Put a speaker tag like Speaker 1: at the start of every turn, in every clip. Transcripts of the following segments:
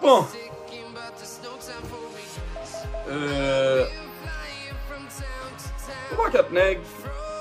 Speaker 1: Bon Eeeeh Yon pakèt nèg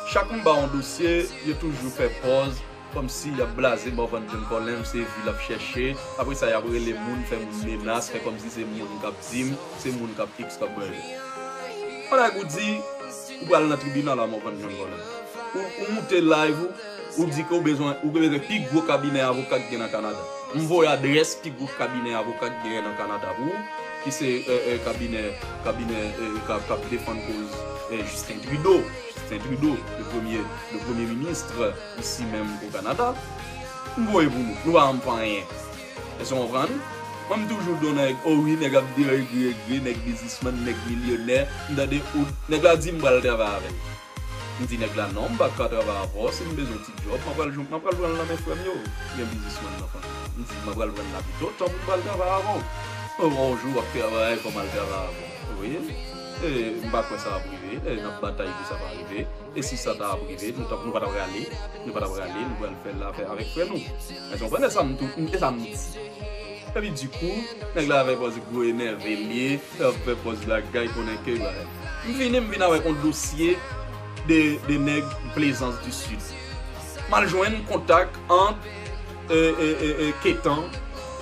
Speaker 1: chak m ba yon dosye yo toujou fè pòz kòmsi yap blaze Morvan John Colem se vi lap chèche apre sa yap rele moun fè moun menas fè kòmsi se moun kap dim se moun kap x kap y bagay ou di Ou pral nan tribinal avan w konn jwenn vòlè. Ou moute live ou, ou di ke ou bezwen pi gwo kabinè avoka ki gen nan Kanada. M voye adrès pi gwo kabinè avoka ki genyen nan Kanada pou ou, ki se kabinè k ap defann koz Justin Trudeau, Justin Trudeau, le premye, le premye ministre isi menm o Kanada. M voye pou nou. Nou pa ban m pou anyen. Èske w konprann? Mwen m toujou di w nèg o wi nèg ap di yo egri egri nèg bizismann nèg milyonè m tande ou nèg la di m pral travay avè l m di nèg la non m pa ka travay avè w si m bezwen ti djòb m apral jwenn m apral pran l nan men frè m yo ki gen bizismann nan fanmi yo m di m apral pran l la pito tanpri m pral travay avè w mwen wè w jou w ap travay fò m al travay avè w ou konnen e m pa kwè sa ap rive e n ap batay pou sa pa rive e si sa ta ap rive nou ta nou pa ta prale nou pa ta prale nou pral fè l avè avèk frè nou. Mwen konprann e sam tou e sam di. Epi dikou nèg la fè pòz gwo enève liye lap fè pòz lagay konnen ke bagay. M vini m vin avèk yon dosye de de nèg plezans di sid. Mal jwenn kontak ant e e e e ketan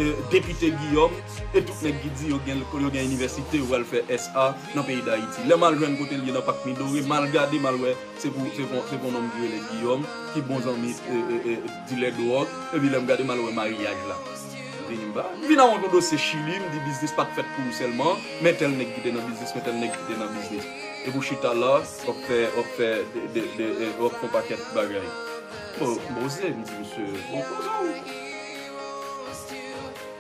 Speaker 1: e depite giyòm e tout nèg ki di yo gen lekòl yo gen inivèsite yo pral fè SA nan peyi dayiti. Lè mal jwenn kotel ye nan pak midore mal gade mal wè se pou se pou se pou yon nonm ki rele giyòm ki bon zanmi e e e Dilè dwòg epi lèm gade mal wè maryaj la vini m pa vin awont yon dosye chili m di biznis pat fèt pou ou sèlman men tèl nèg ki te nan biznis men tèl nèg ki te nan biznis epi ou chita la wap fè wap fè de wap fon pakèt bagay bon koze m di misye bon koze w.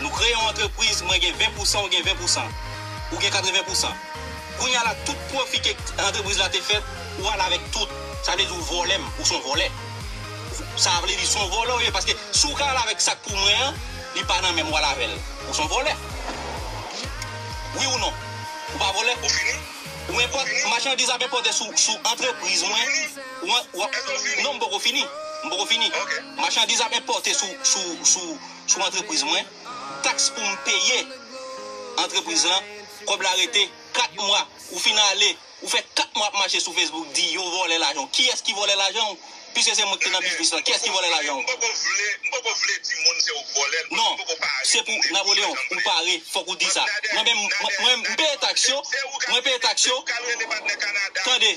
Speaker 2: Nou kreye yon antrepriz, mwen gen 20 pousan ou gen 20 pousan, ou gen 80 pousan. Kounya la tout pwofi ke antrepriz la te fèt ou al avèk tout. Sa vle di ou vòlè m, ou son vòlè. Sa vle di son vòlè ou ye paske si ou ka al avèk sak pou mwen an, li pa nan menm ou al avèl. Ou son vòlè. Wi ou non? Ou pa vòlè? Ou fini? Ou enpòte, machandiz ap enpòte sou antrepriz mwen. Non, m poko fini. M poko fini. Machandiz ap enpòte sou antrepriz mwen, taks pou m peye antrepriz lan, kòb la rete 4 mwa. Ou fin ale, ou fè 4 mwa ap mache sou Facebook di yo vòlè lajan w. Kiyès ki vòlè lajan w? Piske se mwen ki te nan biznis lan, kiyès ki vòlè lajan w? M poko vle di moun se ou k vòlè l. Non, se pou Napoleon ou pare, fòk ou di sa. Mwen menm, m peye taks yo, mwen peye taks yo. Tande!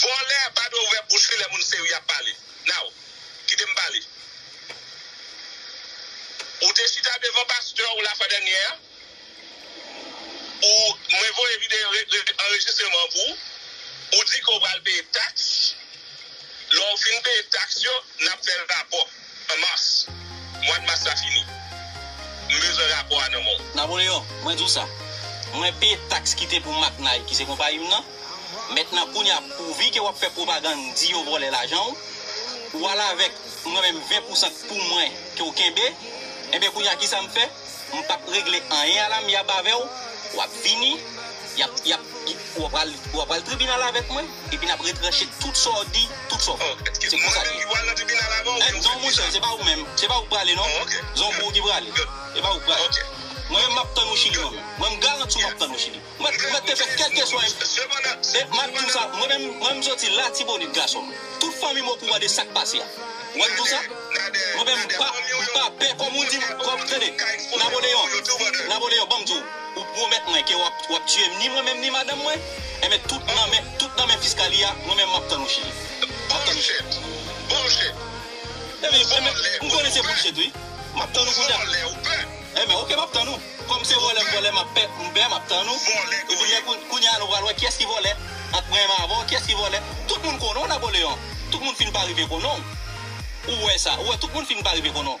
Speaker 2: Vòlè
Speaker 3: a pa dwe ouvè bouch li lè moun serye ap pale now kite m pale ou te chita devan pastè ou la fwa dènyè a ou mwen voye videyo anrejistreman an pou ou ou di ke ou pral peye tax lè ou fin peye tax yo nap fè rapò. En mars. Mwad mas la fini. M bezwen rapò a nan men w. Napoleon, mwen di w sa.
Speaker 2: Mwen peye taks kite pou Maknay ki se konpayi m nan. Mentnan kounya pouvi ke w ap fè pwopagann di yo vòlè lajan w, ou al avèk mwen menm 20 pousan k pou mwen ke w kenbe. Enben kounya kisa m fè? M p ap regle anyen a lamyab avè w. W ap vini. Y ap, y ap, ou ap pral, ou ap pral tribinal avèk mwen. Epi nap retranche tout sa w di, tout sa w fè. Se konsa li ye. Èd zon monchè, se pa ou menm, se pa ou k prale non. Zon pou ou ki prale. Se pa ou k prale. Mwen menm map tann ou Chili mwen menm. Mwen m garanti w map tann ou Chili. Mwen mèt te fè kèlkeswa yon. E map di w sa, mwen menm, mwen menm m soti Latibonit gason m. Tout fanmi m okouran de sak pase a. Ou wè m di w sa? Mwen menm m pa, m pa pè kòm ou di m, kòm, tande, Napoleon, Napoleon, ban m di w. Ou pwomèt mwen ke wap wap tiyem ni mwen menm ni madanm mwen enben tout nan men tout nan men fiskalia mwen menm map tann ou chili map tann ou chili
Speaker 3: Bullshit Bullshit Enben
Speaker 2: enben m konnen se bullshit wi map tann ou pou dat Vòlè ou pè Enben ok map tann ou kòm se vòlè m vòlè map pè m pè map tann ou Vòlè k Epi lè koun kounya nou pral wè kiyès ki vòlè ant mwen menm avèw kiyès ki vòlè tout moun konnen w Napoleon tout moun fin pa rive konnen w ou wè sa ou wè tout moun fin pa rive konnen w.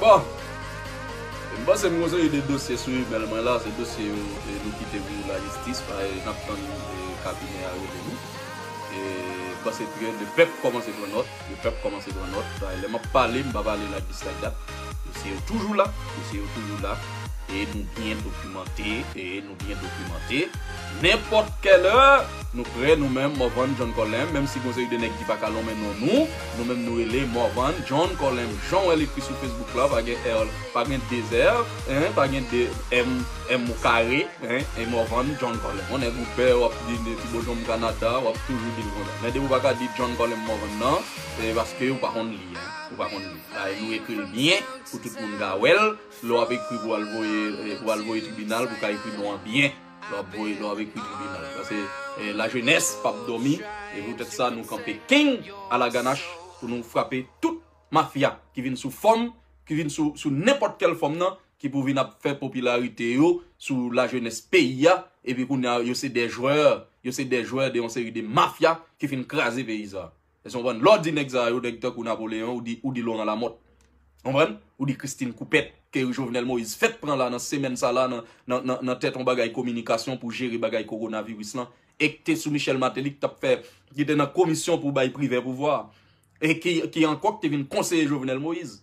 Speaker 1: Bon! M panse m gonzeye de dosye sou email mwen la, se dosye yo e nou kite pou la jistis pa e nap tann e kabinè a rele nou. E m panse trè le pèp kòmanse pran nòt, le pèp kòmanse pran nòt, sa e lè map pale m pa pale like this like that, dosye yo toujou la, dosye yo toujou la e nou byen dokimante e nou. Nou byen dokimante, nenpòt kèl è, nou prè nou menm Morvan John Colem, menm si gon seri de nèg ki paka lonmen non nou, nou menm nou rele Morvan John Colem, jan wèl ekri sou Facebook la pa gen er, pa gen 2 er, hein, pa gen 2 em, em ou kare, hein, e Morvan John Colem. On nèg ou pè wap di depi Beaujon Canada wap toujou dil konsa. Men depi ou paka di John Colem Morvan nan, se paske ou pa konn li, hein, ou pa konn li. Bay nou ekril byen pou tout moun ka wèl. Lè w ap ekri pou w al voye pou w al voye tribinal pou w ka ekri non an byen lè w ap voye lè w ap ekri tribinal pase lajenès p ap dòmi se poutèt sa nou kanpe keng alaganach pou nou frape tout mafya ki vin sou fòm ki vin sou sou nenpòt kèl fòm nan ki pou vin ap fè popilarite yo sou lajenès peyi a epi kounye a yo se dè jwè yo se dè jwè de yon seri de mafya ki fin kraze peyi sa a. Èske w konprann? Lè w di nèg sa yo, nèg tankou Napoleyon, ou di Loran Lamòt. Ou konprann? Ou di Christine Koupèt, ke Jovenel Moïse fèk pran la nan semèn sa la nan tèt yon bagay kominikasyon pou jere bagay kowonaviris lan, e ki te sou Michel Martelly ki t ap fè, ki te nan komisyon pou bay Privè pouvwa a, e ki ankò ki te vin konseye Jovenel Moïse.